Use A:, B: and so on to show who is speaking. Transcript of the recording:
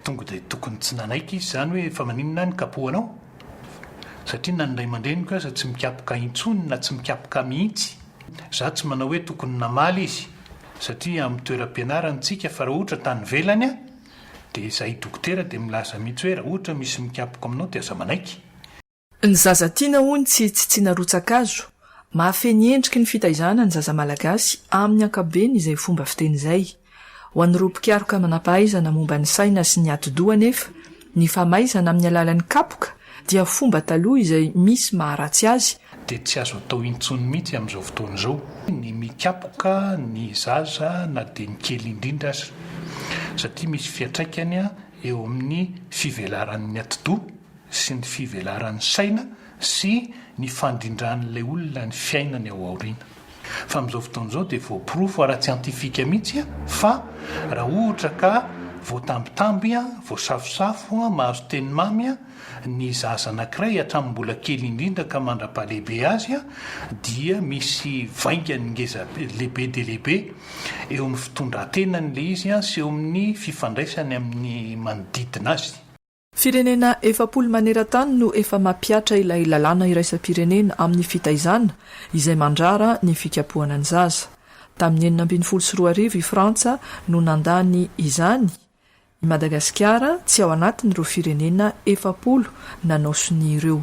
A: Tonga dia tokony tsy nanaiky izy izany hoe fa maninona aho no kapohanao? Satria na ny ray aman-dreniko aza tsy mikapoka intsony na tsy mikapoka mihitsy. Izaho tsy manao hoe tokony namaly izy satria amin'ny toeram-pianarany tsika fa raha ohatra tany ivelany aho Dia zay dokotera dia milaza mihitsy hoe raha ohatra misy mikapoka aminao dia aza manaiky. Ny
B: zaza tiana hono tsy tsitsiana rotsakazo, mahafehy ny endriky ny fitaizana ny zaza malagasy amin'ny ankapobeny izay fomba fiteny izay. Ho an'ireo mpikaroka manampahaizana momba ny saina sy ny atidoha anefa, ny famaizana amin'ny alalan'ny kapoka dia fomba taloha izay misy maharatsy azy dia tsy azo atao
A: intsony mihitsy amin'izao fotoana izao ny mikapoka ny zaza na dia ny kely indrindra aza satria misy fiantraikany eo amin'ny fivelaran'ny atidoha sy ny fivelaran'ny saina sy ny fandrindran'ilay olona ny fiainany ao aoriana. Fa amin'izao fotoana izao dia voaporofo ara-tsiantifika mihitsy fa raha ohatra ka voatambitamby, voasafosafo, mahazo teny mamy ny zaza anankiray hatramin'ny mbola kely indrindra ka mandra-pahalehibe azy dia misy vaingany ngeza lehibe dia lehibe eo amin'ny fitondran-tenany ilay izy sy eo amin'ny fifandraisany amin'ny manodidina azy. Firenena
B: efapolo maneran-tany no efa mampihatra ilay lalàna iraisam-pirenena amin'ny fitaizana izay mandrara ny fikapohana ny zaza. Tamin'ny enina ambin'ny folo sy roa arivo i Frantsa no nandany izany. I Madagasikara tsy ao anatin'ireo firenena efapolo nanao sonia ireo.